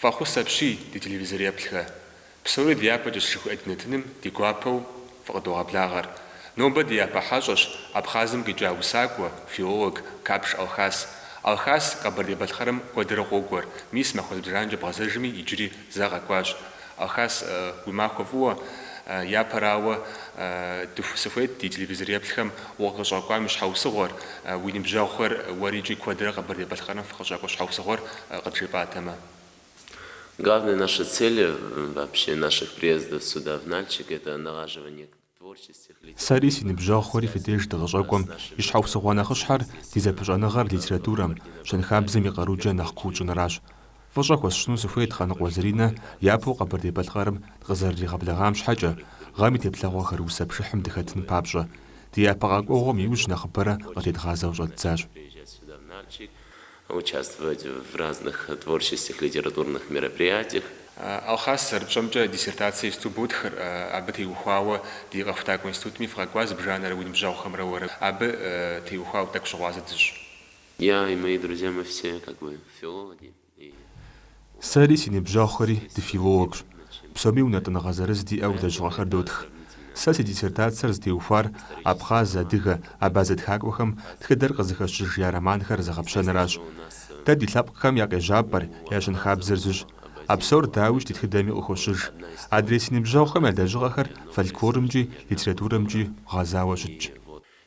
Фӏэхъус апщий, ди телевизореплъхэ. Псори дяпэкӏэщ жыхуиӏэ ди нэтыным ди гуапэу фыкъыдогъэблагъэр. Нобэ ди япэ хьэщӏэщ Абхъазым къикӏа усакӏуэ, филолог Капш Алхас. Алхас Къэбэрдей-Балъкъэрым куэдрэ къокӏуэр, мис махуэ зыбжанэкӏэ бгъэзэжми иджыри зэ къэкӏуащ. Алхас, уи махуэ фӏыуэ, япэрауэ, дыху сыхуейт ди телевизореплъхэм укъыщӏэкӏуам и щхьэусыгъуэр, уи ныбжьэгъухэр уэрикӏи куэдрэ Къэбэрдей-Балъкъэрым фыкъыщӏэкӏуэ щхьэусыгъуэр къыджепӏатэмэ. Главная наша цель вообще наших приездов сюда в Нальчик это налаживание. Сэри си ныбжьэгъухэри фи деж дыкъыщӏэкӏуэм и щхьэусыгъуэ нэхъыщхьэр ди зэпыщӏэныгъэр литературэм, щэнхабзэм и къарукӏэ нэхъ куу тщӏыныращ. Фӏыщӏэ хуэсщӏыну сыхуейт Къаныкъуэ Заринэ япэу Къэбэрдей-Балъкъэрым дыкъызэрыригъэблэгъам щхьэкӏэ, гъэм и теплъэгъуэхэр усэ пшыхьым дыхэтын папщӏэ. Ди япэ къэкӏуэгъуэм иужь нэхъыбэрэ къытедгъазэу щӏэддзащ. участвовать в разных творческих, литературных мероприятиях. Алхас, зэрыпщӏэмкӏэ, диссертацэ исту ботхыр, абы теухуауэ ди Къэхутакӏуэ институтми фыкъэкӏуа зыбжанэрэ уи ныбжьэгъухэмрэ уэрэ. Абы теухуауэ тӏэкӏу щыгъуазэ дыщӏ. Я и мои друзья мы все как бы филологи и. Сэри си ныбжьэгъухэри дыфилологщ, псоми унэтӏыныгъэ зырыз диӏэу лэжьыгъэхэр дотх. Сэ си диссертацэр зытеухуар абхъаз, адыгэ, абазэ тхакӏуэхэм тхыдэр къызыхэщыж я романхэр зэгъэпщэныращ. Дэ ди лъэпкъхэм я къежьапӏэр, я щэнхабзэр зыщ. А псор, дауи, ди тхыдэми къыхощыж. Адрей си ныбжьэгъухэм я лэжьыгъэхэр фольклорымкӏи, литературэмкӏи гъэзауэ щытщ.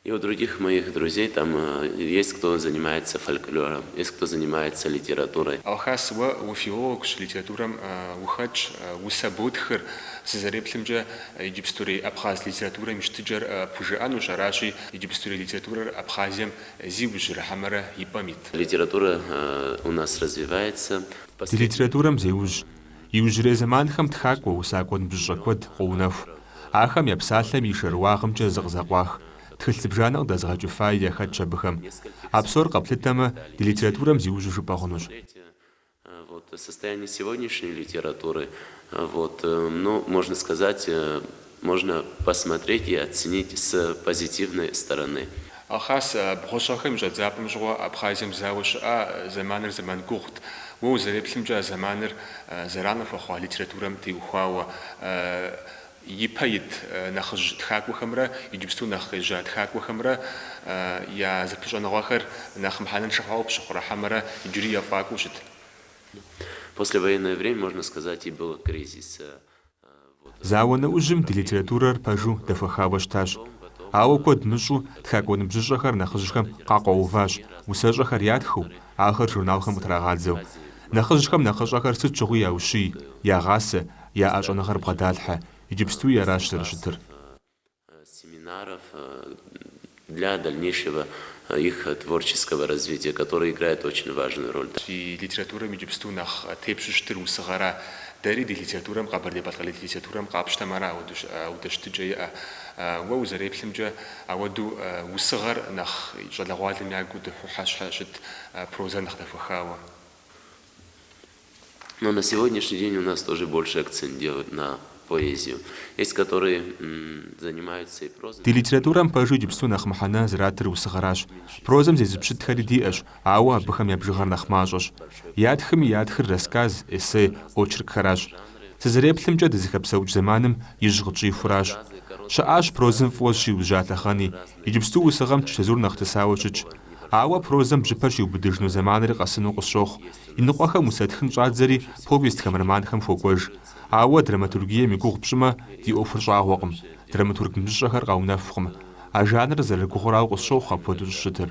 И у других моих друзей там есть кто занимается фольклором, есть кто занимается литературой. Алхас, уэ уфилологщ, литературэм ухэтщ, усэ ботхыр, сызэреплъымкӏэ, иджыпстурей абхъаз литературэм и щытыкӏэр пхужыӏэнущ, аращи, иджыпстурей литературэр Абхъазием зиужьрэ хьэмэрэ и пӏэм ит. Литература у нас развивается. Ди литературэм зеужь Иужьрей зэманхэм тхакӏуэ, усакӏуэ ныбжьыщӏэ куэд къоунэху. Ахэм я псалъэм и шэрыуагъымкӏэ зыкъызэкъуах тхылъ зыбжанэ къыдэзыгъэкӏыфаи яхэтщ абыхэм. А псор къэплъытэмэ, ди литературэм зиужьу жыпӏэ хъунущ. Можно посмотреть и оценить с позитивной стороны. Алхас, бгъущӏ гъэхэм и щӏэдзапӏэм щыгъуэ Абхъазием зауэ щыӏа зэманыр зэман гугъут. Уэ узэреплъымкӏэ а зэманыр зэран хуэхъуа литературэм теухуауэ ипэ ит нэхъыжь тхакӏуэхэмрэ иджыпсту нэхъ къежьа тхакӏуэхэмрэ я зэпыщӏэныгъэхэр нэхъ мыхьэнэншэ хъуауэ пщыхъурэ хьэмэрэ иджыри ефӏакӏуэу щыт. Послевоенное время, можно сказать, и был кризис. Зауэ нэужьым ди литературэр пэжу дэхуэхауэ щытащ. Ауэ куэд мыщӏу тхакӏуэ ныбжьыщӏэхэр нэхъыжьхэм къакъуэуващ, усэщӏэхэр ятхыу, ахэр журналхэм къытрагъадзэу. Нэхъыжьхэм нэхъыщӏэхэр сыт щыгъуи яущий, ягъасэ, я щӏэныгъэр бгъэдалъхьэ, иджыпстуи аращ зэрыщытыр. семинаров для дальнейшего их творческого развития, которые играют очень важную роль. Фи литературэм иджыпсту нэхъ тепщу щытыр усыгъэра? Дэри ди литературэм, къэбэрдей-балъкъэр литературэм къапщтэм ара ауэду щытыкӏэ иӏэ. Уэ узэреплъымкӏэ, ауэду усыгъэр нэхъ щӏалэгъуалэм ягу дыхьэу щхьэ щыт, прозэр нэхъ дэхуэхауэ. Но на сегодняшний день у нас тоже больше акцент делают на поэзию. Есть, которые занимаются и прозой. Ди литературэм пэжу иджыпсту нэхъ мыхьэнэ зэратыр усыгъэращ. Прозэм зезыпщытхэри диӏэщ, ауэ абыхэм я бжыгъэр нэхъ мащӏэщ. Ятхми ятхыр рассказ, эссе, очеркхэращ. Сызэреплъымкӏэ, дызыхэпсэукӏ зэманым ижь къытщӏихуращ. Щыӏащ прозэм фӏыуэ щиужьа лъэхъэни. Иджыпсту усыгъэм чэзур нэхъ тысауэ щытщ. Ауэ прозэм бжьыпэр щиубыдыжыну зэманри къэсыну къысщохъу, Языныкъуэхэм усэтхын щӏадзэри повестхэм, романхэм хуокӏуэж. Ауэ драматургием и гугъу пщӏымэ, ди ӏуэхур щӏагъуэкъым, драматург ныбжьыщӏэхэр къэунэхукъым. А жанрыр зэрыгугъурауэ къысщохъу апхуэдэу щӏыщытыр.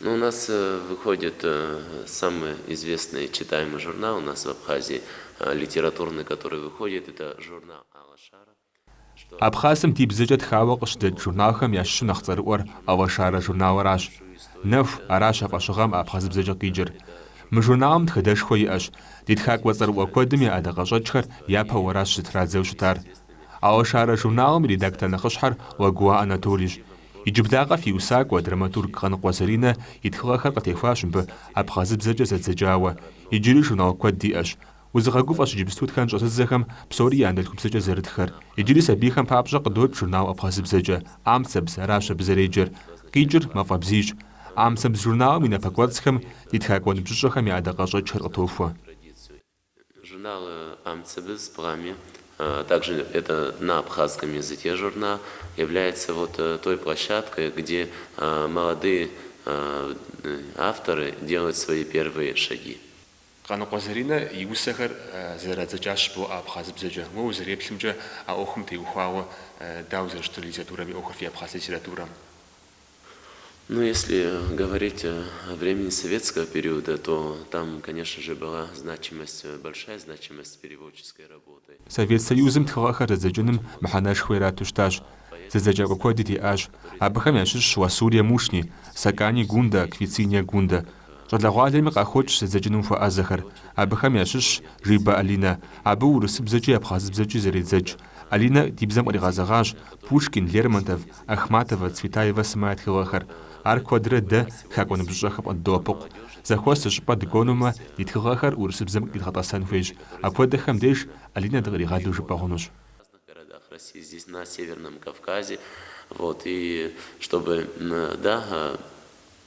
Ну, у нас выходит самый известный читаемый журнал у нас в Абхазии, литературный, который выходит, это журнал Алашара. Абхъазым ди бзэкӏэ тхауэ къыщыдэкӏ журналхэм ящыщу нэхъ цӏэрыӏуэр Алашара журналыращ. Нэху, аращ а фӏэщыгъэм абхъазыбзэкӏэ къикӏыр. Мы журналым тхыдэшхуэ иӏэщ, ди тхакӏуэ цӏэрыӏуэ куэдым я ӏэдакъэщӏэкӏхэр япэу аращ зытрадзэу щытар. Алашара журналым и редактор нэхъыщхьэр Лагуа Анатолийщ. Иджыблагъэ фи усакӏуэ, драматург Къаныкъуэ Заринэ и тхыгъэхэр къытехуащ мыбы абхъазыбзэкӏэ зэдзэкӏауэ. Иджыри журнал куэд диӏэщ. Узыгъэгуфӏэщ иджыпсту тхэн щӏэзыдзэхэм псори я анэдэлъхубзэкӏэ зэрытхэр. Иджыри сабийхэм папщӏэ къыдокӏ журнал абхъазыбзэкӏэ. Амцэбз, аращ абы зэреджэр. Къикӏыр Мафӏэ бзийщ. Амцэбз журналым и напэкӏуэцӏхэм ди тхакӏуэ ныбжьыщӏэхэм я ӏэдакъэщӏэкӏхэр къытохуэ. Журнал Амцэбз, Пламя, а также это на абхазском языке журнал, является вот той площадкой, где молодые авторы делают свои первые шаги. Къаныкъуэ Заринэ и усэхэр зэрадзэкӏащ жыбоӏэ абхъазыбзэкӏэ. Уэ узэреплъымкӏэ а ӏуэхум теухуауэ дауэ зэрыщытыр литературэм и ӏуэхур фи абхъаз литературэм? Ну, если говорить о времени советского периода, то там, конечно же, была значимость, большая значимость переводческой работы. Совет Союзым тхыгъэхэр зэдзэкӏыным мыхьэнэшхуэ ирату щытащ. Зэдзэкӏакӏуэ куэди диӏащ. Абыхэм ящыщщ Ласурия Мушни, Сакани Гунда, Квициния Гунда. Щӏалэгъуалэми къахокӏ зэдзэкӏыным хуэӏэзэхэр. Абыхэм ящыщщ Жибэ Алинэ. Абы урысыбзэкӏи абхъазыбзэкӏи зэредзэкӏ. Алинэ ди бзэм къригъэзэгъащ Пушкин, Лермонтов, Ахматова, Цветаева сымэ я тхыгъэхэр. Ар куэдрэ дэ, тхакӏуэ ныбжьыщӏэхэм, къыддоӏэпыкъу. Зэхуэс зы щӏыпӏэ дыкӏуэнумэ, ди тхыгъэхэр урысыбзэм къидгъэтӏэсэн хуейщ. Апхуэдэхэм деж Алинэ дыкъригъэлу жыпӏэ хъунущ.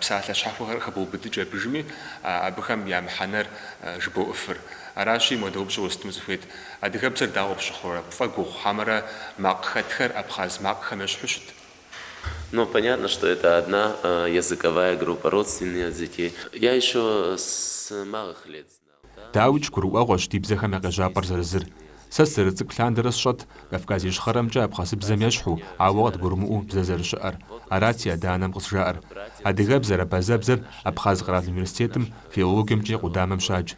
Псалъэ щхьэхуэхэр хэбоубыдыкӏ абыжми, абыхэм я мыхьэнэр жыбоӏыфыр. Аращи, мыдэ упщӏэ уэстыну сыхуейт, Адыгэбзэр дауэ пщыхъурэ, пфӏэгугъу хьэмэрэ макъ хэтхэр абхъаз макъхэм ещхьу щыт? Ну, понятно, что это одна языковая группа, родственные языки. Я ещё с малых лет знаю. Дауикӏ, гурыӏуэгъуэщ ди бзэхэм я къежьапӏэр зэрызыр. Сэ сызэрыцӏыкӏу лъандэрэ сщӏэт Кавказ Ищхъэрэмкӏэ абхъазыбзэм ещхьу, ауэ къыдгурымыӏуэу бзэ зэрыщыӏэр. Арат си адэ-анэм къызжаӏэр. Адыгэбзэр, абазэбзэр Абхъаз къэрал университетым филологиемкӏэ и къудамэм щадж.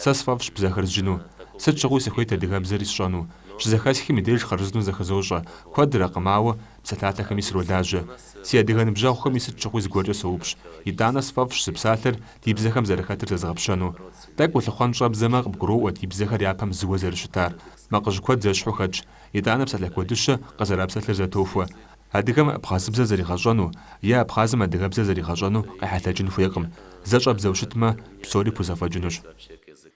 Сэ сфӏэфӏщ бзэхэр зджыну. Сыт щыгъуи сыхуейт адыгэбзэри сщӏэну. Щызэхэсхым и деж хъарзынэу зэхызощӏэ. Куэдрэкъым, ауэ псалъалъэхэми сролажьэ. Си адыгэ ныбжьэгъухэми сыт щыгъуи зыгуэркӏэ соупщӏ. Итӏанэ сфӏэфӏщ зы псалъэр ди бзэхэм зэрыхэтыр зэзгъэпщэну. Тӏэкӏу улъыхъуэн щӏэбдзэмэ, къыбгуроӏуэ ди бзэхэр япэм зыуэ зэрыщытар. Макъыжь куэд зэщхьу хэтщ, итӏанэ псалъэ куэдыщэ къызэрапсэлъыр зэтохуэ. Адыгэм абхъазыбзэ зэригъэщӏэну е абхъазым адыгэбзэ зэригъэщӏэну къехьэлъэкӏын хуейкъым, зэ щӏэбдзэу щытмэ, псори пхузэфӏэкӏынущ.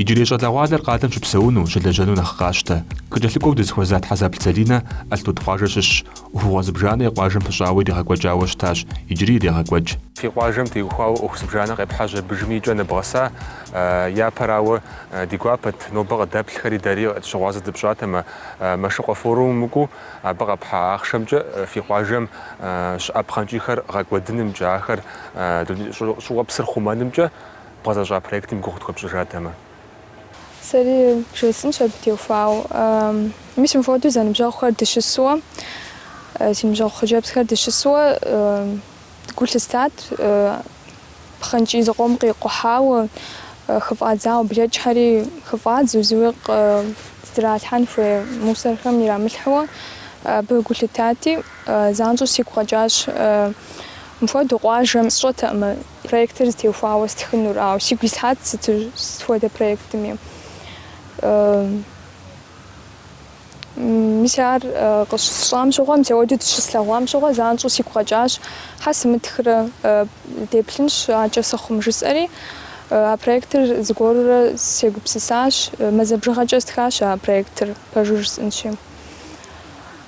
Иджырей щӏалэгъуалэр къалэм щыпсэуну, щылэжьэну нэхъ къащтэ. Къыкӏэлъыкӏуэу дызыхуэза Тхьэзэплъ Залинэ Алътуд къуажэ щыщщ. ӏуэхугъуэ зыбжанэ и къуажэм пыщӏауэ иригъэкӏуэкӏауэ щытащ, иджыри ирегъэкӏуэкӏ. Фи къуажэм теухуауэ ӏуэху зыбжанэ къепхьэжьа абыжми и кӏэ ныбгъэса. Япэрауэ, ди гуапэт, нобэ къыдэплъхэри дэри щыгъуазэ дыпщӏатэмэ. Мэшыкъуэ форумым укӏуу, Абы къэпхьа ахъшэмкӏэ фи къуажэм щыӏэ пхъэнкӏийхэр гъэкӏуэдынымкӏэ, ахэр щӏыуэпсыр хъумэнымкӏэ бгъэзэщӏа проектым и гугъу тхуэпщӏыжатэмэ. Сэри бжесӏэнщ абы теухуауэ. Мис мыпхуэдэу зэныбжьэгъухэр дыщысуэ, си ныбжьэгъу хъыджэбзхэр дыщысуэ гу лъыстат. Пхъэнкӏий зыкъом къикъухьауэ, хыфӏадзауэ блэкӏхэри хыфӏадзу, зыуи къыздралъхьэн хуей мусорхэм ирамылъхьэуэ абы гу лъытати, занщӏэу сигу къэкӏащ. Мыпхуэдэу къуажэм сщӏэтэӏымэ проектыр зытеухуауэ стхынур, ауэ сигу ислъхьат сыту сыт хуэдэ проектми. Мис ар къыщысщӏам щыгъуэ, мис ауэдэу дыщыслъэгъуам щыгъуэ занщӏэу сигу къэкӏащ, хьэ сымытхрэ, деплъынщ акӏэ сыхъум, жысӏэри, а проектыр зыгуэрурэ сегупсысащ, мазэ бжыгъэкӏэ стхащ а проектыр, пэжу жысӏэнщи.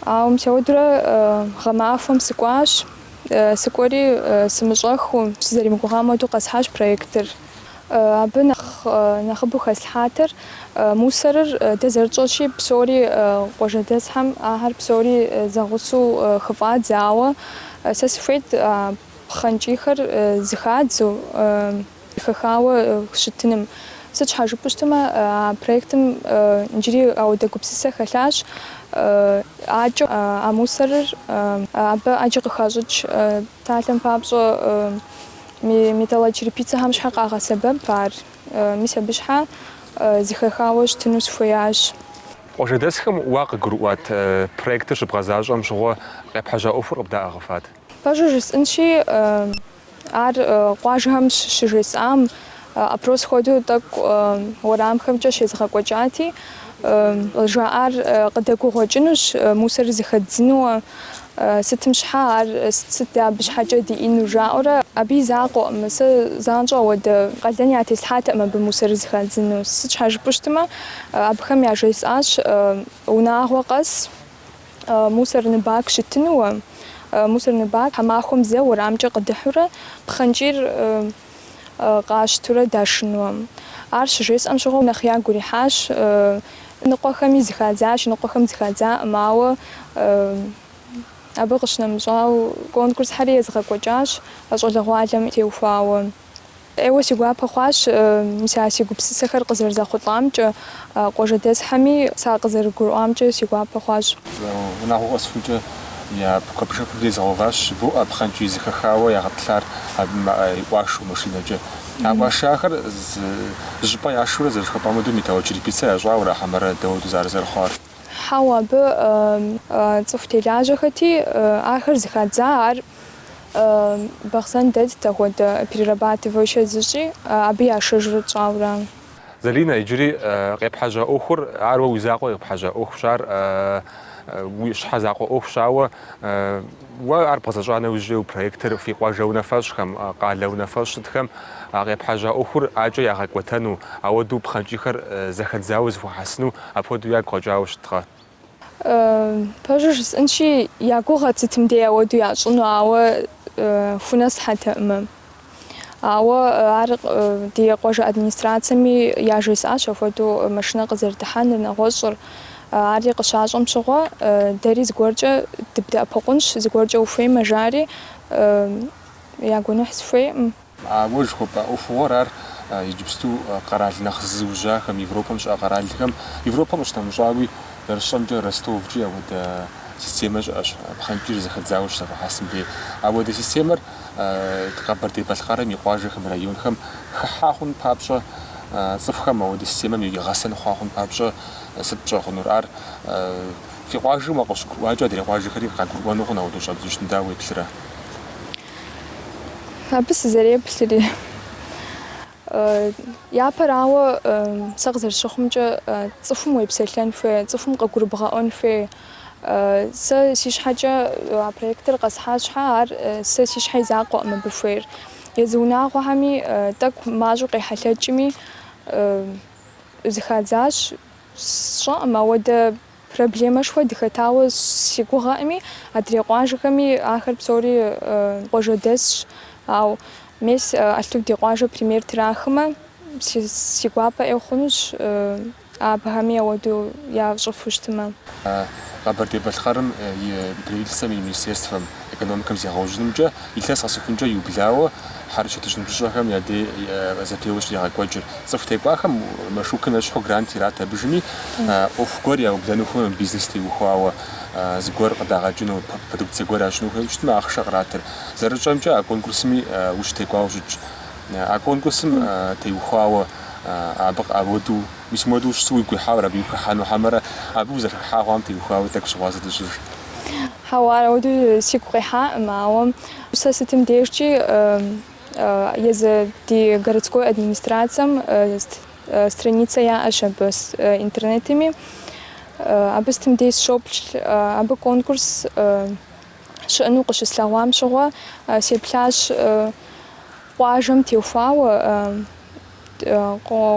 Ауэ мис ауэдурэ гъэмахуэм сыкӏуащ, сыкӏуэри сымыщӏэхыу, сызэрымыгугъам хуэдэу къэсхьащ проектыр. Абы нэхъ нэхъыбэу хэслъхьатэр мусорыр дэ зэрытщӏэщи, псори къуажэдэсхэм ахэр псори зэгъусэу хыфӏадзэ, ауэ сэ сыхуейт а пхъэнкӏийхэр зыхадзэу, хэхауэ щытыным. Сыт щхьэ жыпӏэу щытмэ, а проектым иджыри ауэдэ гупсысэ хэлъащ, акӏэ а мусорыр абы ӏэджэ къыхащӏыкӏ псалъэм папщӏэ. Металлочерепицэхэм щхьэ къагъэсэбэп ар. Мис абы щхьэ зыхэхауэ щытыну сыхуеящ. Къуажэдэсхэм уэ къыгурыӏуат проектыр щыбгъэзащӏэм щыгъуэ къепхьэжьа ӏуэхур къыбдаӏыгъыфат? Пэжу жысӏэнщи, ар къуажэхэм щыжесӏам. Опрос хуэдэу тӏэкӏу уэрамхэмкӏэ щезыгъэкӏуэкӏати, жаӏар къыдэгугъуэкӏынущ, мусор зыхэддзынууэ, сытым щхьэ ар сыт абы щхьэкӏэ диӏэну жаӏэурэ. Абы и закъуэӏым, сэ занщӏэу ауэдэ къалэн ятеслъхьатэӏым абы мусор зыхадзыну. Сыт щхьэ жыпӏэу щытмэ, абыхэм яжесӏащ унагъуэ къэс мусорный бак щытынууэ. Мусорный бак тхьэмахуэм зэ уэрамкӏэ къыдыхьурэ пхъэнкӏийр. къащтурэ дашынуэм. Ар щыжесӏэм щыгъуэ нэхъ ягу ирихьащ ныкъуэхэми зыхадзащ, ныкъуэхэм зыхадзаӏым, ауэ абы къыщынэмыщӏауэ конкурсхьэри езыгъэкӏуэкӏащ щӏалэгъуалэм теухуауэ. ӏейуэ си гуапэ хъуащ мис а си гупсысэхэр къызэрызэхъулӏамкӏэ. Къуажэдэсхэми сэ къызэрыгурыӏуамкӏэ си гуапэ хъуащ. Унагъуэ къэсхукӏэ я куэбжэхэм езыгъэуващ, жыбоӏэ пхъэнкӏий зыхэхауэ ягъэтӏылъар абы и ӏуашэу машинэкӏэ. А ӏуашахэр зыщӏыпӏэ яшэурэ зэрыжыхуэпӏам хуэдэу металлочерепица ящӏауэрэ хьэмэрэ дауэдэу зэрызэрыхъуар? Хьэуэ, абы цӏыху телажьэхэти, ахэр зыхадза, ар Бахъсэн дэтт, ахуэдэ перерабатывающэ зыщӏи, абы яшэжурэ тщӏауэ ара? Залинэ, иджыри къепхьэжьа ӏуэхур, ар уэ уи закъуэ къепхьэжьа ӏуэхущ, ар уи щхьэ закъуэ ӏуэхущ, ауэ уэ ар бгъэзэщӏа нэужь уи проектыр фи къуажэ унафэщӏхэм, къалэ унафэщӏ щытхэм а къепхьэжьа ӏуэхур акӏэ ягъэкӏуэтэну, ауэдэу пхъэнкӏийхэр зэхэдзауэ зыхуэхьэсыну апхуэдэу ягу къэкӏауэ щыткъэ? Пэжу жысӏэнщи, я гугъэт сытым дей ауэду ящӏыну, ауэ хунэ сыхьэтэӏым. Ауэ ар ди къуажэ администрацэми яжесӏащ апхуэдэу машинэ къызэрыдыхьэныр, нэгъуэщӏыр. Ари къыщащӏэм щыгъуэ, дэри зыгуэркӏэ дыбдэӏэпыкъунщ, зыгуэркӏэ ухуеймэ, жари, я гуэныхь сыхуейкъым. Уэ жыхуэпӏа ӏуэхугъуэр ар иджыпсту къэрал нэхъ зиужьахэм, Европэм щыӏэ къэралхэм, Европэм къыщынэмыщӏауи, зэрысщӏэмкӏэ Ростовкӏи ауэдэ системэ щыӏэщ, пхъэнкӏийр зэхэдзауэ щызэхуахьэсым дей. Ауэдэ системэр Къэбэрдей-Балъкъэрым и къуажэхэм, районхэм хыхьа хъун папщӏэ, цӏыхухэм ауэдэ системэм и гъэсэн хъуа хъун папщӏэ сыт пщӏэ хъунур? Ар фи къуажэм къыщыгурыӏуакӏэ адрей къуажэхэри къагурыӏуэну хъун ауэдэу щӏебгъэщӏын, дауэ уеплърэ? Абы сызэреплъри, япэрауэ сэ къызэрыщыхъумкӏэ цӏыхум уепсэлъэн хуей, цӏыхум къыгурыбгъэӏуэн хуей. Сэ си щхьэкӏэ а проектыр къэсхьа щхьэ, ар сэ си щхьэ и закъуэкъым абы хуейр. Езы унагъуэхэми тӏэкӏу мащӏэу къехьэлъэкӏми зыхадзащ, сщӏэкъым ауэдэ. Проблемэшхуэ дыхэтауэ си гугъэкъыми, адрей къуажэхэми ахэр псори къуажэдэсщ. Ау мес а ди къуажэ пример трахымэ, си гуапэ ӏей хъунущ абыхэми ауэду ящӏыфу щытымэ. Къэбэрдей-Балъкъэрым и Правительствэм и министерствэм Экономикэм зегъэужьынымкӏэ илъэс къэсыхункӏэ иублауэ хьэрычэтыщӏэ ныбжьыщӏэхэм я дей зэпеуэ щригъэкӏуэкӏыр. Цӏыху текӏуахэм Мэшыкъуэм ещхьу грант ират абыжми, ӏуэху гуэр яублэну хуеймэ, бизнес теухуауэ зыгуэр къыдагъэкӏыну, продукцие гуэр ящӏыну хуейуэ щытмэ, ахъшэ къратыр. Зэрытщӏэмкӏэ, а конкурсми ущытекӏуауэ щытщ. А конкурсым теухуауэ абы къыӏэуэду. Уэ мис мыдэ ущысу уигу къихьауэ ара абы ухыхьэну хьэмэрэ абы узэрыхыхьа хъуам теухуауэ тӏэкӏу щыгъуазэ дыщӏыт? Хьэуа, ар ауэдэу сигу къихьакъым, ауэ сэ сытым дежкӏи езы ди городской администрацэм страницэ яӏэщ абы интернетми, абы сытым дей сщоплъ, абы конкурс щыӏэну къыщыслъэгъуам щыгъуэ сеплъащ. Къуажэм теухуауэ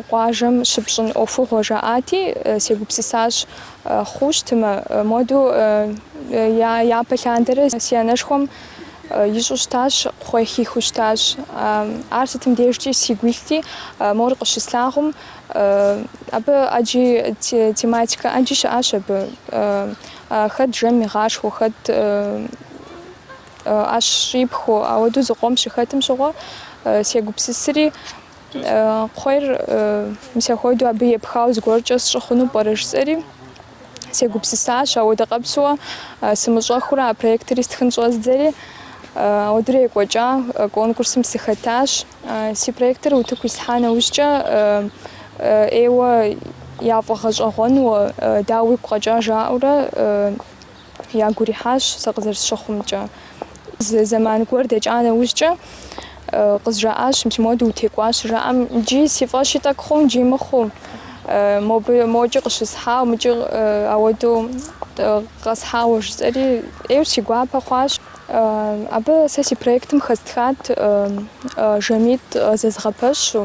къуажэм щыпщӏын ӏуэхугъуэ жаӏати, сегупсысащ, хъуу щытмэ, моду япэ лъандэрэ си анэшхуэм ищӏу щытащ, кхъуей хихыу щытащ. Ар сытым дежкӏи сигу илъти, мор къыщыслъагъум, абы ӏэджи тематикэ ӏэджи щыӏащ абы, хэт жэм игъашхуэу, хэт. ӏэщ щӏипхыу, ауэдэу зыкъом щыхэтым щыгъуэ сегупсысри, кхъуейр мис ахуэдэу абы епхауэ зыгуэркӏэ сщӏы хъуну пӏэрэ жысӏэри, сегупсысащ, ауэдэ къэпсуэ сымыщӏэхыурэ а проектыри стхын щӏэздзэри, ауэдурэ екӏуэкӏа, конкурсым сыхэтащ. Си проектыр утыку ислъхьа нэужькӏэ, ӏейуэ яфӏэгъэщӏэгъуэну, дауэ уигу къэкӏа жаӏэурэ, ягу ирихьащ сэ къызэрысщыхъумкӏэ. Зэман гуэр дэкӏа нэужькӏэ, къызжаӏащ, мис моду утекӏуащ, жаӏэм, Иджы си фӏэщи тӏэкӏу хъууэ, иджы мыхъуу. Мокӏи къыщысхьауэ, мыкӏи ауэдэу къэсхьауэ, жысӏэри, ӏейуэ си гуапэ хъуащ. Абы сэ си проектым хэстхат жэмитӏ зэзыгъэпэщу,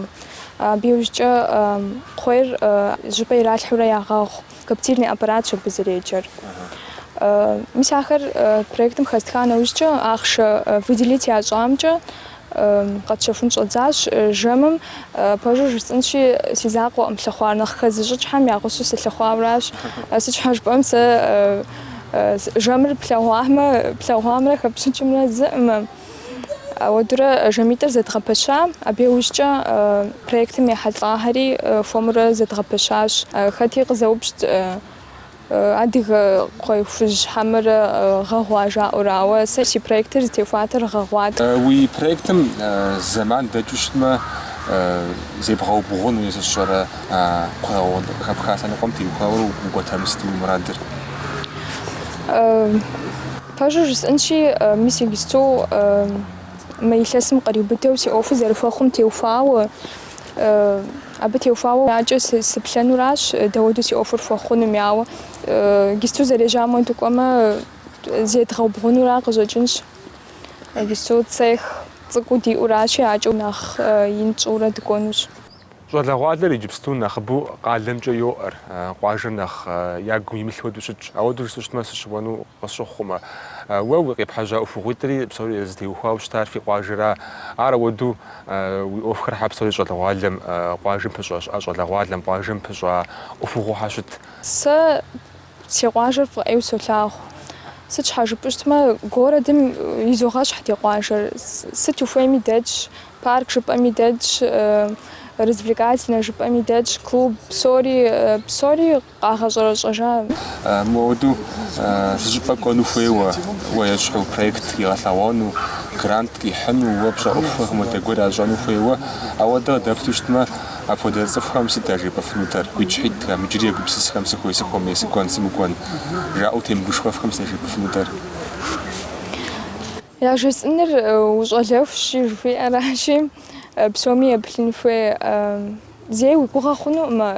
абы иужькӏэ кхъуейр щӏыпӏэ иралъхьэурэ ягъэгъу. Коптильный аппаратщ абы зэреджэр. Мис ахэр проектым хэстха нэужькӏэ ахъшэ выделить ящӏамкӏэ къэтщэхун щӏэдзащ. Жэмым пэжу жысӏэнщи, си закъуэӏым лъыхъуар, нэхъ хэзыщӏыкӏхэм я гъусэу сылъыхъуауэращ. Сыт щхьэ жыпӏэм, сэ жэмыр плъэгъуамэ, плъэгъуамрэ хэпщӏыкӏымрэ зыӏымэ. Ауэдурэ жэмитӏыр зэдгъэпэща, абы иужькӏэ проектым ехьэлӏахэри хуэмурэ зэдгъэпэщащ. Хэти къызэупщӏт адыгэ кхъуей хужь хьэмэрэ гъэгъуа жаӏэурэ, ауэ сэ си проектыр зытеухуатэр гъэгъуат. Уи проектым зэман дэкӏыу щытмэ, зебгъэубгъуну е сэ сщӏэрэ къыхэпха лъэныкъуэм теухуауэ укӏуэтэмэ, сыт уи мурадыр? Пэжу жысӏэнщи, мис иджыпсту мы илъэсым къриубыдэу си ӏуэхур зэрыхуэхъум теухуауэ, абы теухуауэ акӏэ сыплъэнуращ дауэду си ӏуэхур хуэхъунуми, ауэ иджыпсту зэрежьам хуэду кӏуэмэ зедгъэубгъунура къыщӏэкӏынщ, иджыпсту цех цӏыкӏуу диӏуращи, акӏэу нэхъ ин тщӏыурэ дыкӏуэнущ. Щӏалэгъуалэр иджыпсту нэхъыбэу къалэмкӏэ йоӏэр, къуажэр нэхъ ягу имылъ хуэдэу щытщ, ауэду жысӏэу щытмэ сыщыуэну Къысщыхъумэ, уэ уи къепхьэжьа ӏуэхугъуитӏри псори зытеухуауэ щытар фи къуажэра? Ар ауэдэу уи ӏуэхухэр хьэ псори щӏалэгъуалэм къуажэм пыщӏащ, ӏэ щӏалэгъуалэм къуажэм пыщӏа ӏуэхугъуэ хьэ щыт? Сэ си къуажэр фӏы ӏейуэ солъагъу. Сыт щхьэ жыпӏэу щытмэ, городэм изогъэщхь ди къуажэр. Сыт ухуейми дэтщ, парк жыпӏэми дэтщ, развлекательнэ жыпӏэми дэтщ, клуб, псори, псори къагъэщӏэрэщӏэжа? Мыуэдэу зы щӏыпӏэ кӏуэну хуейуэ, уэ ещхьу проект игъэлъэгъуэну, грант къихьыну, уэ пщӏэ ӏуэхухэм хуэдэ гуэр ящӏэну хуейуэ. Ауэдэ къыдэплъу щытмэ, апхуэдэ цӏыхухэм сыт яжепӏэфынутэр? Гуитӏщхьитӏхэм, иджыри егупсысхэм сыхуей сыхуэмей, сыкӏуэн сымыкӏуэн? жаӏэу темыгушхуэфхэм сыт яжепӏэфынутэр? Яжесӏэныр ущӏалэхущи, жыхуиӏэращи, псоми еплъын хуей. Зэи уи гугъэ хъунукъымэ,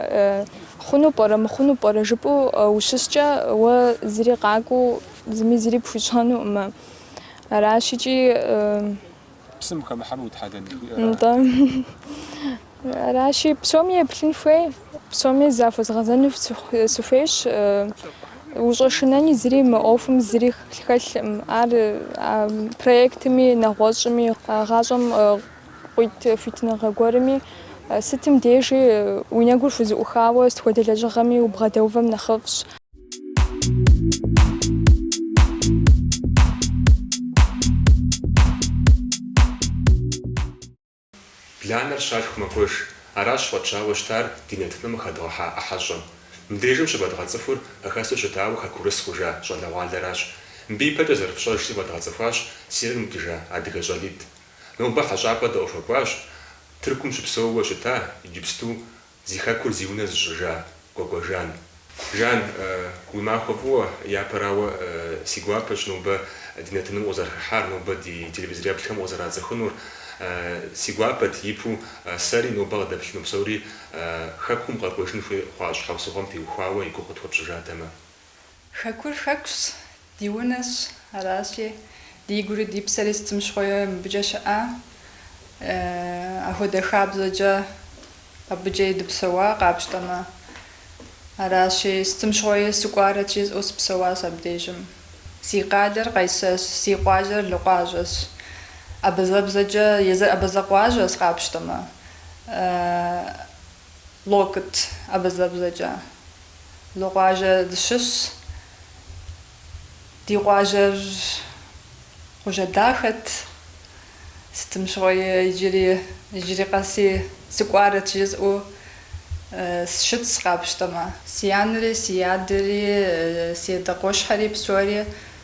хъуну пӏэрэ, мыхъуну пӏэрэ жыпӏэу ущыскӏэ, уэ зыри къакӏуэу, зыми зыри пхуищӏэнукъымэ. Аращ икӏи. Псым хэмыхьэну утхьэлэн жыхуиӏэра? Нтӏэ. Аращи, псоми еплъын хуей, псоми захуэзгъэзэну сыхуейщ. Ущӏэшынэни зыри мы ӏуэхум зыри хэлъым. Ар проектми, нэгъуэщӏми, гъащӏэм къуит хуитыныгъэ гуэрми, сытым дежи уи нэгур хузэӏухауэ сыт хуэдэ лэжьыгъэми убгъэдэувэм нэхъыфӏщ. Бланэр щалъху мэкӏуэж. Аращ фӏэтщауэ щытар ди нэтыным къыхэдгъэхьа ӏыхьэщӏэм. Мыбдежым щывэдгъэцӏыхур хэхэсу щытауэ хэкурыс хъужа щӏалэгъуалэращ. Мыбы ипэкӏэ зэрыфщӏэжщи фэдгъэцӏыхуащ Сирием къикӏыжа адыгэ щӏалитӏ. Нобэ хьэщӏапӏэ дыхуэкӏуащ Тыркум щыпсэууэ щыта иджыпсту Зи хэкур зи унэ зыщӏыжа Кӏуэкӏуэ Жан. Жан, уи махуэ фӏыуэ, япэрауэ, си гуапэщ нобэ ди нэтыным укъызэрыхыхьар, нобэ ди телевизореплъхэм укъызэрацӏыхунур. Си гуапэт, ипу, сэри нобэ къыдэплъыну псори хэкум къэкӏуэжын хуей хъуа щхьэусыгъуэм теухуауэ и гугъу къытхуэпщӏыжатэмэ. Хэкур хэкущ, ди унэщ, аращи, ди гури ди псэри сытым щыгъуи мыбыкӏэ щыӏа. Ахуэдэ хабзэкӏэ абыкӏи дыпсэуа къапщтэмэ. Аращи, сытым щыгъуи сыкӏуарэт жысӏэу сыпсэуащ абдежым. Си къалэр Къайсэрщ, си къуажэр Локъуажэщ. Абазэбзэкӏэ, езыр абазэ къуажэщ къапщтэмэ. Локыт, абазэбзэкӏэ, Локъуажэ дыщыщщ. Ди къуажэр къуажэ дахэт. Сытым щыгъуи иджыри, иджыри къэси сыкӏуарэт жызӏэу сщытщ къапщтэмэ. Си анэри, си адэри, си адэ къуэшхэри псори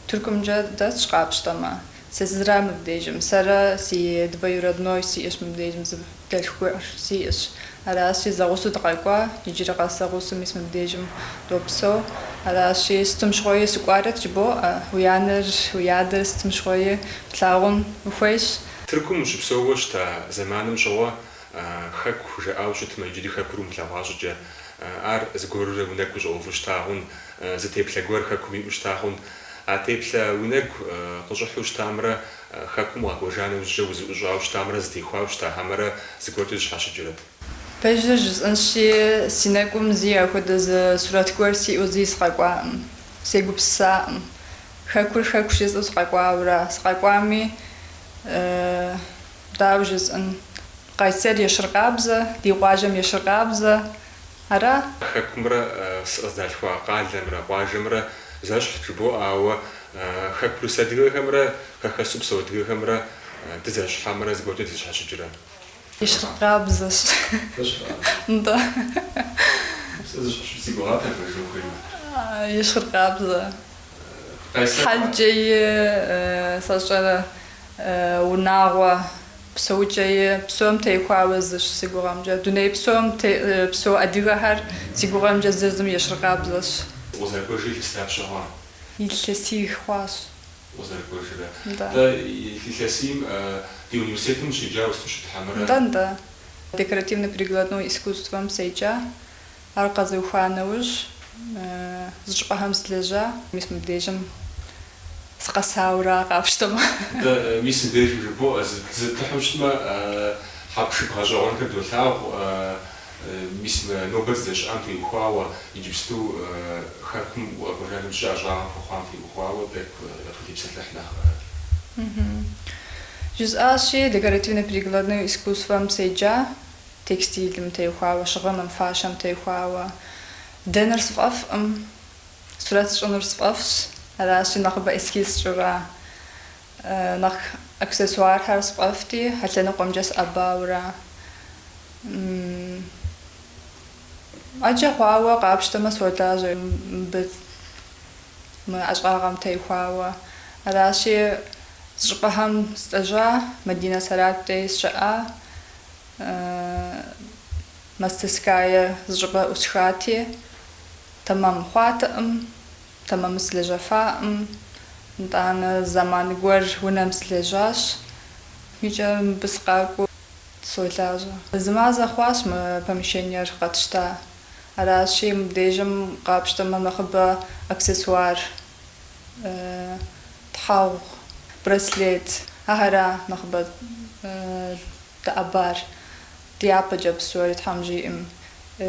Тыркумкӏэ дэсщ къапщтэмэ. Сэ сызыра мыбдежым? Сэрэ си двоюродной сиӏэщ мыбдежым, зы дэлъху гуэр сиӏэщ. Аращи, зэгъусэу дыкъэкӏуа, иджыри къэс зэгъусэу мис мыбдежым допсэу. Аращи, сытым щыгъуи сыкӏуарэт жыбоӏэ, уи анэр, уи адэр сытым щыгъуи плъагъун ухуейщ. Тыркум ущыпсэууэ щыта зэманым щыгъуэ Хэку жаӏауэ щытмэ, иджыри Хэкур умылъэгъуа щӏыкӏэ, ар зыгуэрурэ уи нэгу щӏэуву щыта хъун, зы теплъэ гуэр Хэкум иӏэу щыта хъун, А теплъэ уи нэгу къыщӏыхьу щытамрэ Хэкум укъэкӏуэжа нэужькӏэ узыӏущӏауэ щытамрэ зэтехуауэ щыта хьэмэрэ зыгуэркӏэ зэщхьэщыкӏрэт. Пэжыр, жысӏэнщи, си нэгум зыи ахуэдэ зы сурэт гуэр сиӏэу зыи сыкъэкӏуакъым. Сегупсысакъым. Хэкур Хэку жысӏэу сыкъэкӏуауэра? Сыкъэкӏуами, дауэ жысӏэн, Къайсэр ещхьыркъабзэ, ди къуажэм ещхьыркъабзэ. Ара? Хэкумрэ сыкъыздалъхуа къалэмрэ къуажэмрэ зэщхь жыбоӏэ, ауэ хэкурыс адыгэхэмрэ хэхэсу псэу адыгэхэмрэ дызэщхь хьэмэрэ зыгуэркӏэ дызэщхьэщыкӏрэ? Ещхьыркъабзэщ. Нтӏэ. Сэ зэщхьэщыкӏ си гугъат абы жыпӏэн хуейуэ. Ещхьыркъабзэ. Хьэлкӏэи, сщӏэрэ, унагъуэ, псэукӏэи, псом техуауэ зыщ си гугъэмкӏэ. Дуней псом тепсэу адыгэхэр си гугъэмкӏэ зыр зым ещхьыркъабзэщ. Укъызэрыкӏуэжрэ илъэс дапщэ хъуа? Илъэсий хъуащ. Укъызэрыкӏуэжрэ? Нтӏэ. Нтӏэ, илъэсийм ди университетым ущеджауэ щыт хьэмэрэ? Нтӏэ, нтӏэ. Декоративно-прикладной искусствэм седжа. Ар къэзуха нэужь, зы щӏыпӏэхэм сылэжьа. Мис мыбдежым сыкъэсауэра, къапщтэмэ. Дэ, мис мыбдежым жыбоӏэ, зытыхьу щытмэ, хьэпшып гъэщӏэгъуэнхэр долъагъу, мис мы нобэ дыздэщыӏам теухуауэ, иджыпсту Хэкум укъэкӏуэжа нэужь ӏэщӏагъэ пхуэхъуам теухуауэ, тӏэкӏу къытепсэлъыхь нэхъ. Жысӏащи, декоративно-прикладное искусствэм седжа. Текстилым техуауэ, щыгъыным, фащэм техуауэ. Дэныр сфӏэфӏкъым. Сурэт сщӏынур сфӏэфӏщ. Аращи, нэхъыбэ эскиз сщӏыра. Нэхъ аксессуархэр сфӏэфӏти, а лъэныкъуэмкӏэ сыӏэбауэра. ӏэджэ хъуауэ къапщтэмэ, солажьэ мыбы мы ӏэщӏагъэм техуауэ. Аращи, зы щӏыпӏэхэм сылэжьа, Мадинэ Сэралъп дей сщыӏа. Мастерская зыщӏыпӏэ ӏусхати, тэмэм хъуатэӏым, тэмэму сылэжьэфаӏым, нтӏанэ зэман гуэр унэм сылэжьащ, икӏэ мыбы сыкъакӏуэу солажьэ. Зы мазэ хъуащ мы помещениер къэтщта, аращи, мыбдежым къапщтэмэ нэхъыбэ аксессуар, тхьэгъу, браслет, ахэр ара нэхъыбэ Дэӏэбар, дяпэкӏэ псори Тхьэм жиӏэм.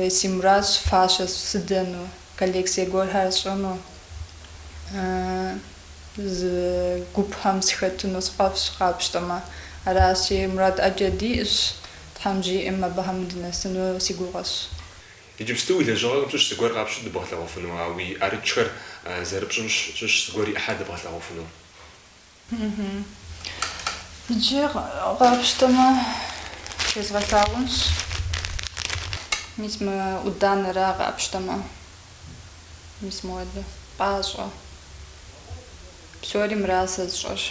Си мурадщ фащэ сыдэну, коллекцие гуэрхэр сщӏыну, зы гупхэм сыхэтыну сфӏэфӏщ, къапщтэмэ. Аращи, мурад ӏэджэ диӏэщ, Тхьэм жиӏэм абыхэм дынэсыну си гугъэщ. Иджыпсту уи лэжьыгъэхэм щыщ зыгуэр къапщту дыбгъэлъэгъуэфыну, а уи ӏэрыкӏхэр зэрыпщӏым щыщ зыгуэр и ӏыхьэр дыбгъэлъэгъуэфыну. Иджы къапщтэмэ, фезгъэлъагъунщ. Мис мы ӏуданэра къапщтэмэ? Мис муэдэ. Пӏащӏэ. Псори мыра сэ сщӏэр.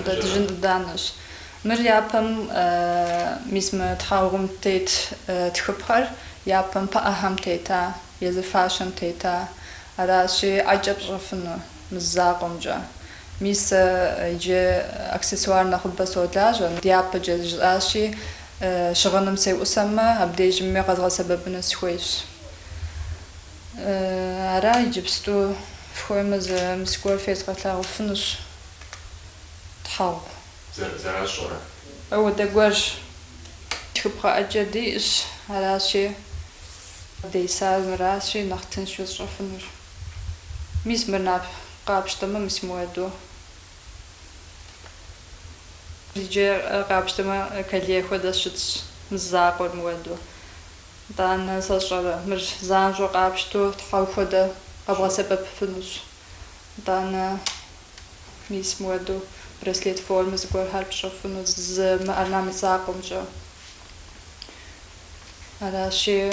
Дыжьын ӏуданэщ. Мыр япэм, мис мы тхьэгъум тет тхыпхъэр япэм пыӏэхэм тета, езы фащэм тета. Аращи, ӏэкӏэ пщӏэфыну. Мы закъуэмкӏэ, мис сэ иджы аксессуар нэхъыбэ солажьэ, дяпэкӏэ жысӏащи, щыгъыным сеӏусэмэ, абдежми къэзгъэсэбэпыну схуейщ. Ара иджыпсту, фхуеймэ, зы мис гуэр фезгъэлъагъуфынущ, тхьэгъу. Зэращӏэрэ? Ауэдэ гуэрщ. Тхыпхъэ ӏэджэ диӏэщ, аращи, десар мыращи, нэхъ тыншу сщӏэфынур. Мис мыр нап къапщтэмэ, мис муэду. Иджы къапщтэмэ, колье хуэдэ щытщ, мы закъуэр муэду. Итӏанэ сэ сщӏэрэ, мыр занщӏэу къапщту тхьэгъу хуэдэ къэбгъэсэбэпыфынущ. Итӏанэ, мис муэду, браслет формэ зыгуэрхэр пщӏэфыну, зы мы орнамент закъуэмкӏэ. Аращи.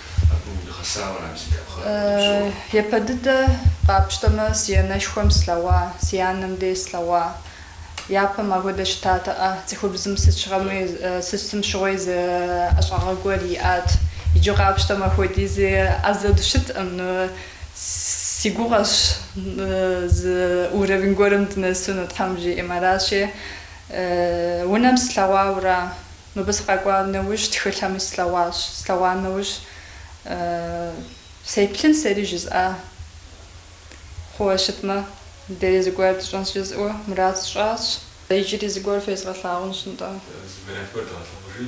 Япэ дыдэ къапщтэмэ, си анэшхуэм слъэгъуа, си анэм дей слъэгъуа. Япэм ахуэдэ щытатэӏэ. Цӏыхубзым сыт щыгъуэми, сытым щыгъуэи зы ӏэщӏагъэ гуэр иӏат. Иджы къапщтэмэ, апхуэдизи ӏэзэ дыщытӏым. Си гугъэщ зы уровень гуэрым дынэсыну, Тхьэм жиӏэм. Аращи, унэм слъэгъуауэ ара. Мыбы сыкъэкӏуа нэужь тхылъхэми слъэгъуащ. Слъэгъуа нэужь сеплъын сэри жызӏа хъууэ щытмэ, дэри зыгуэр тщӏэнщ жызӏэу мурад сщӏащ. Иджыри зыгуэр фезгъэлъагъунщ нтӏэ. Зыгуэрхэр дгъэлъэгъужи.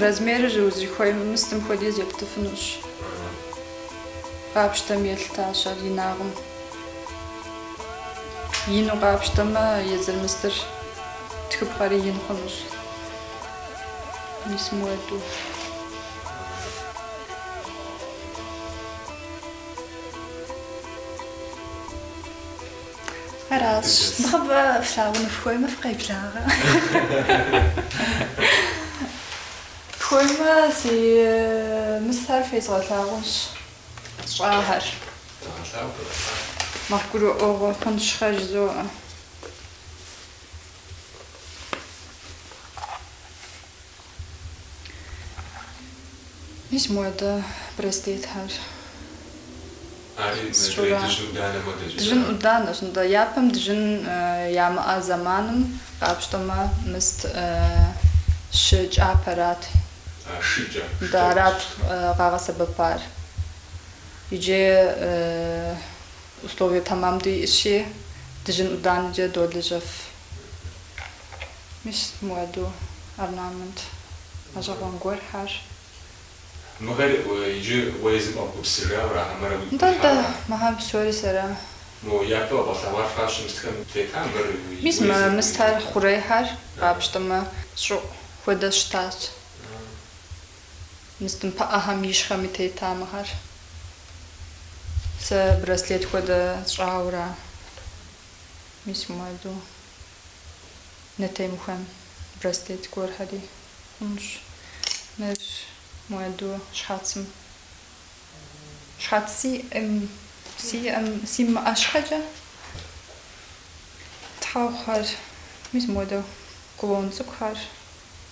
Размерыр узыхуей мыстым хуэдиз ептыфынущ. Къапщтэм елъытащ ар инагъым. Ину къапщтэмэ, езыр мыстыр. Тхыпхъэри ин хъунущ. Мис муэду. Аращ. Нэхъыбэ флъагъуну фхуеймэ фыкъеблагъэ. Фхуеймэ си мыстхэр фезгъэлъагъунщ. Сщӏахэр. Зэгъэлъагъу, зэгъэлъагъу. Нэхъ гурыӏуэгъуэ хъунщ, хъэ, жызоӏэ. Мис мода браслетхэр. Ари мы Сщӏэрэ. жей дыжьын данэ модэкӏэ Дыжьын зэран? ӏуданэщ, нтӏэ. Япэм дыжьын ямыӏэ зэманым къапщтэмэ, мыст щы кӏапэрат. А, шы кӏа, шы Нтӏэ, кӏапэ арат щытмэ. къагъэсэбэпар. Иджы Условие тэмэм диӏэщи, дыжьын ӏуданэкӏэ долэжьэф. Мис муэду орнамент гъэщӏэгъуэн гуэрхэр. Мыхэр иджы уэ езым къэбгупсыса ара хьэмэрэ уигу Нтӏэ, нтӏэ, къихьа? мыхэр псори сэра? Мо япэ къэбгъэлъэгъуар фащэ мыстхэм тета мыр уи Мис мэ, езыр, уи мыстхэр хъурейхэр къапщтэмэ, щӏыӏу хуэдэ щытащ. Мыстымпыӏэхэм ищхьэми тета мыхэр. Сэ браслет хуэдэ сщӏауэра мис муэду нэ темыхуэн браслет гуэрхэри хъунщ. Мыр муэду щхьэцым. Щхьэц сиӏэм, сиӏэм, симыӏэ щхьэкӏэ тхьэгъухэр, мис муэдэ кулон цӏыкӏухэр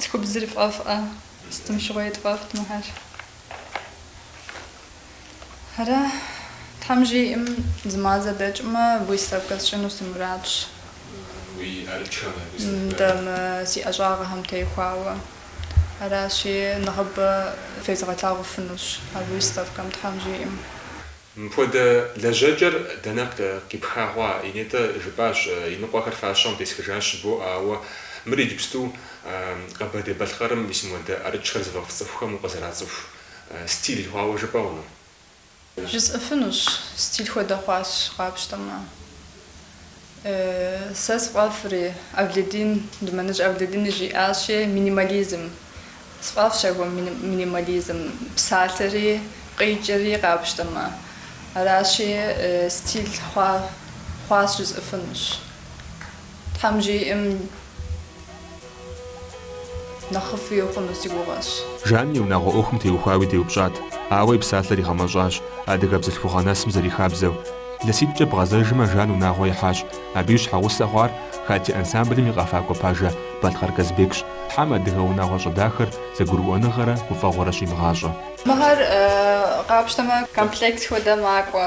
Цӏыхубзыр фӏэфӏ, сытым щыгъуи дфӏэфӏт мыхэр. Ара, Тхьэм жиӏэм, зы мазэ дэкӏмэ, выставкэ сщӏыну си мурадщ. Уи ӏэрыкӏхэм абы сыт хуэдэ? Нтӏэ, мы си ӏэщӏагъэхэм теухуауэ. Аращи, нэхъыбэ фезгъэлъагъуфынущ выставкэм, Тхьэм жиӏэм. Мыпхуэдэ лэжьэкӏэр дэнэ къипха хъуа? Нетӏэ жыпӏащ. Иныкъуэхэр фащэм тесхыжащ, бо, ауэ мыр иджыпсту Къэбэрдей-Балъкъэрым ис муэдэ ӏэрыкӏхэр зыфӏэфӏ цӏыхухэм укъызэрацӏыху стиль хъуауэ жыпӏэ хъуну? Жысӏэфынущ, стиль хуэдэ хъуащ, къапщтэмэ. Сэ сфӏэфӏри, Авледин, Думэныщ Авледини жиӏащи, минимализм. Сфӏэфӏщ аргуэру минимализм, псалъэри къикӏри къапщтэмэ. Аращи, стиль хъуа, хъуащ жызӏыфынущ. Тхьэм жиӏэм, Нэхъыфӏуи хъуну си гугъэщ. Жан и унагъуэ ӏуэхум теухуауи деупщӏат, ауэ и псалъэр игъэмэщӏащ адыгэ бзылъхугъэ нэсым зэрихабзэу. Илъэситӏкӏэ бгъэзэжмэ, Жан унагъуэ ихьащ. Абы и щхьэгъусэ хъуар Хатти ансамблым и къэфакӏуэ пажэ Балъкъэр Казбекщ. Тхьэм адыгэ унагъуэщӏэ дахэр зэгурыӏуэныгъэрэ гуфӏэгъуэрэ щимыгъащӏэ. Мыхэр къапщтэмэ, комплекс хуэдэ макӏуэ.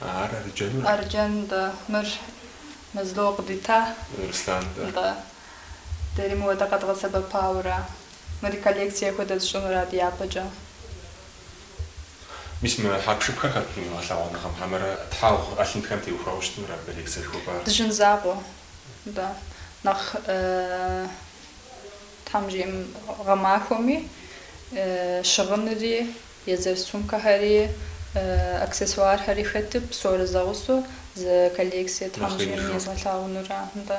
А ар Арджэнура? Арджэн, да. Мыр Мэзло къыдита. Руслан, да. Да. Дэри мыуэдэ къэдгъэсэбэпауэра? Мыри коллекцие хуэдэ зыщӏынура дяпэкӏэ? Мис мы хьэпшыпхэр хэтыну гъэлъэгъуэныгъэм? Хьэмэрэ тхьэгъу ӏэлъынхэм теухуауэ щытынура абы коллекцие жыхуэпӏар? Дыжьын закъуэ, да. Нэхъ, тхьэм жиӏэм, гъэмахуэми, щыгъыныри Езыр сумкэхэри, аксессуархэри хэту, псори зэгъусэу зы коллекцие тхьэм жиӏэм езгъэлъагъунурэ нтӏэ,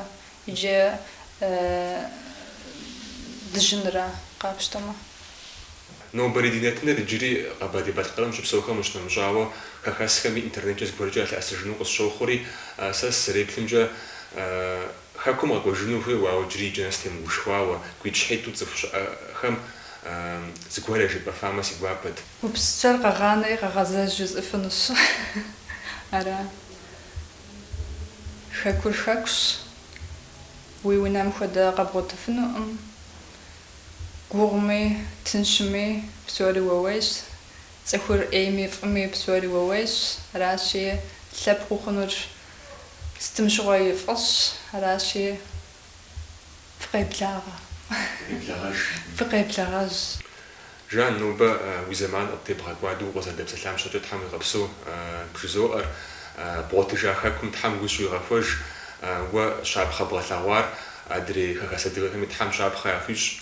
иджы дыжьынрэ къапщтэмэ. Нобэрей ди нэтыныр иджыри Къэбэрдей-Балъкъэрым щыпсэухэм ущынэмыщӏауэ, хэхэсхэми интернеткӏэ зыгуэркӏэ ялъэӏэсыжыну къысщохъури, сэ сызэреплъымкӏэ, Хэкум къэкӏуэжыну хуейуэ, ауэ иджыри иджы нэс темыгушхуауэ, гуитӏщхьитӏу цӏыху щыӏэхэм зыгуэрэ жепӏэфамэ си гуапэт. Упсчэр къэгъанэри къэгъэзэж жызӏыфынущ. Ара? Хэкур хэкущ, уи унэм хуэдэ къэбгъуэтыфынукъым. Гугъуми, тыншми псори уэ уейщ. Цӏыхур ӏейми фӏыми псори уэ уейщ. Аращи, лъэпкъ ухъунур Сытым щыгъуи фӏыщ, аращи, фыкъеблагъэ. Фыкъеблэгъэж. Фыкъеблэгъэж. Жан, нобэ уи зэман къыттебгъэкӏуадэу укъызэрыдэпсэлъам щэкӏэ Тхьэм уигъэпсэу бжызоӏэр. Бгъуэтыжа Хэкум Тхьэм гу щуигъэхуэж. Уэ щапхъэ бгъэлъэгъуар адрей хэхэс адыгэхэми Тхьэм щапхъэ яхуищӏ.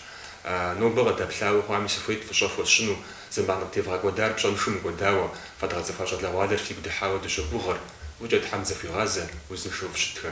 Нобэ къыдэплъауэ хъуами сыхуейт фӏыщӏэ хуэсщӏыну. Зэман къыттевгъэкӏуэдар пщӏэншэу мыкӏуэдауэ, фэдгъэцӏыхуа щӏалэгъуалэр фигу дыхьауэ дыщогугъыр, фӏыкӏэ Тхьэм зэхуигъазэ, узыншэу фыщытхэ.